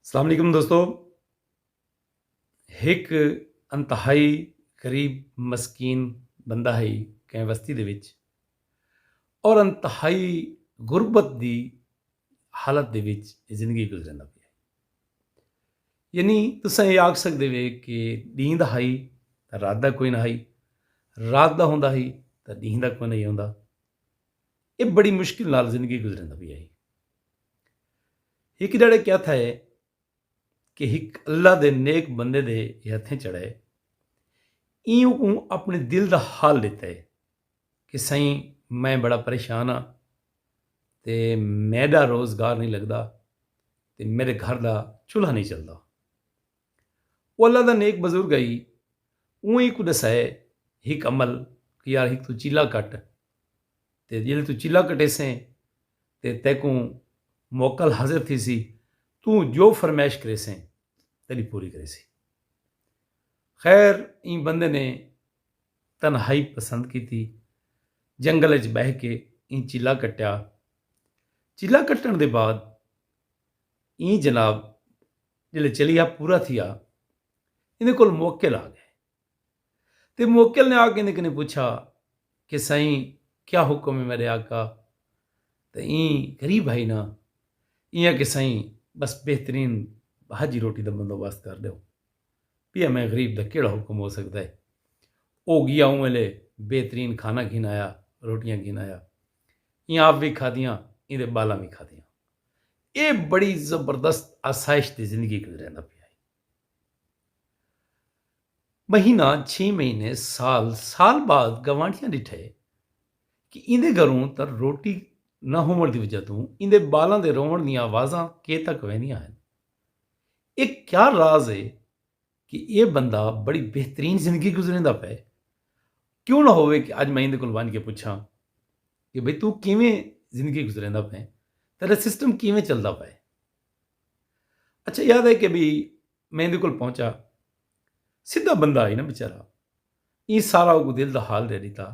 السلام علیکم دوستو ہک انتہائی غریب مسکین بندہ ہے کہیں وستی دے وچ اور انتہائی غربت دی حالت دے وچ زندگی گزرن پہ یعنی تسا یہ آکھ سکتے وے کہ دین دا ہائی تو رات دا کوئی نہ ہائی رات دا ہوندا ہی تو دین دا کوئی نہیں ہوندا ایہ بڑی مشکل نال زندگی گزریندا پیا ہئی۔ ہک جھڑے کیا تھئے کہ ہک اللہ دے نیک بندے دے ایہ ہتھیں چڑھئے۔ ایں اوں اپنے دل دا حال ڈتئے کہ سئیں میں بڑا پریشان ہاں تے میڈا روزگار نئیں لگدا تے میڈے گھر دا چولہا نئیں چلدا۔ او اللہ دا نیک بزرگ ہئی، اوں ایں کوں ڈسائے ہک عمل کہ یار ہک توں چیلا کٹ تے جیلے توں چیلا کٹیسیں تے تیکوں موکل حاضر تھیسی توں جو فرمائش کریسیں تیڈی پوری کریسی۔ خیر ایں بندے نے تنہائی پسند کیتی جنگل اچ بہہ کے ایں چیلا کٹیا۔ چیلا کٹن دے بعد ایں جناب جلے چلیہا پورا تھیا ایندے کول موکل آ گئے تے موکل نے آ کے ایندے کنے پوچھا کہ سائیں کیا حکم ہے میرے آقا تے ایں غریب بھائی نا ایاں کہ سائیں بس بہترین بھاجی روٹی دا بندوبست کر دیو پیا میں غریب دا کیڑا حکم ہو سکدا ہے او گیا اوں ویلے بہترین کھانا گھن آیا روٹیاں گھن آیا ایاں آپ بھی کھادیاں ایندے بالاں بھی کھادیاں اے بڑی زبردست آسائش دی زندگی گزریندا پیا ہئی۔ مہینہ چھی مہینے سال سال بعد گوانڈھیاں ڈٹھے کہ ایندے گھروں تاں روٹی نہ ہووݨ دی وجہ توں ایندے بالاں دے رووݨ دیاں آوازاں کے تک ویندیاں ہن۔ اے کیا راز اے کہ ایہ بندہ بڑی بہترین زندگی گزریندا پئے، کیوں نہ ہووے کہ اج میں ایندے کول ونج کے پچھاں کہ بھئی توں کیویں زندگی گزریندا پئیں، تیڈا سسٹم کیویں چلدا پئے۔ اچھا یاد ہے کہ بھئی میں ایندے کول پہنچا، سدھا بندہ ہئی نا بیچارہ، ایں سارا اوکوں دل دا حال ڈے ڈتا۔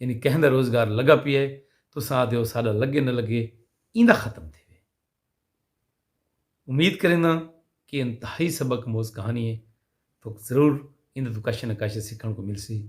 یعنی کہیں دا روزگار لگا پیا ہے تساں آہدے ہو ساڈا لگے نہ لگے ایندا ختم تھیوے۔ امید کرینداں کہ انتہائی سبق اموز کہانی ہے توک ضرور ایندے توں کش نہ کش سکھن کوں ملسی۔